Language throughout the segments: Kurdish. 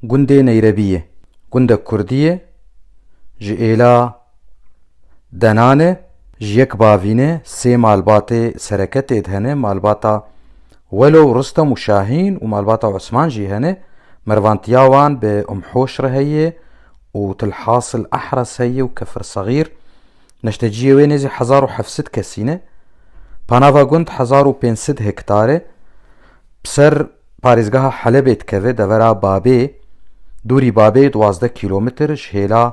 Gundê Neyrebiyê gundek kurdî ye ji êla Denan e. Ji yek bavînê sê malbatê sereke tê de hene, malbata Welo û Rustem û Şahîn û malbata Osman jî hene. Mervantiya wan bi Umm Hoş re heye û Tilhasil Ehres heye û Kefir Segîr. Neşteciyê wê nêzî hezar û heft sed kesî ne. Panava gund hezar û pênc sed hektar e. bi ser parêzgeha Helebê dikeve devera Babê, dûrî Babê duwazdeh kîlometr ji hêla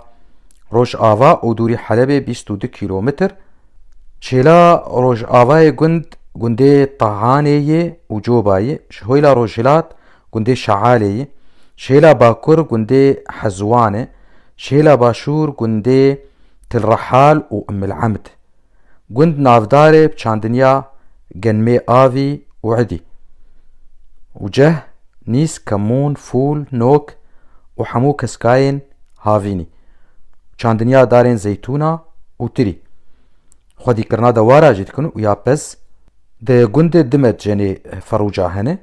Rojava û dûrî Helebê bîst û du kîlometr. Ji hêla Rojavayê gund gundê Tahanê yê û Coba yê, ji hêla Rojhilat gundê Şealê yê, ji hêla Bakur gundê Hezwan e, ji hêla Başûr gundê Tilrehal û Ummil'emd. Gund navdarê bi çandinya Genmê Avî û Idî û ceh, nîz, kemûn, fûl, nok û hemû keskayên havînî û çandinya darên zeytûna û tirî. Xwedîkirina dewara jî dikin û ya pez. Di gundê di medcenê ferûca hene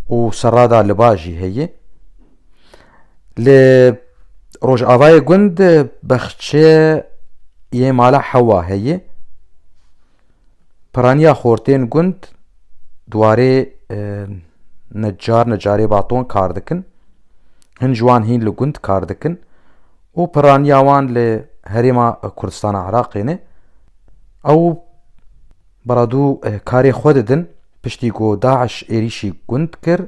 û serrada liba jî heye. Li Rojavayê gund bexçe yê mala hewa heye. Piraniya xortên gund dwarê necar necarê baton kar dikin. Hin ji wan hîn li gund kar dikin û piraniya wan li herêma Kurdistana Iraqê ne. Ew Baradû karê xwe didin piştî ku DAIŞ êrîşî gund kir,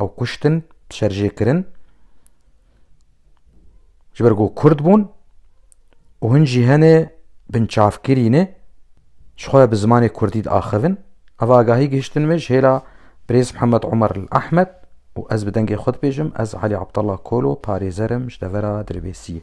ew kuştin, şerjê kirin ji ber ku Kurd bûn û hin jî hene binçavkirî ne ji xwe bi zimanê Kurdî diaxivin. Ev agahî gihiştin me ji hêla Birêz Mihemed Omer li Ehmed û ez bi dengê xwe dibêjim ez Elî Abdallah Kolo parêzer im ji devera Dirbêsiyê.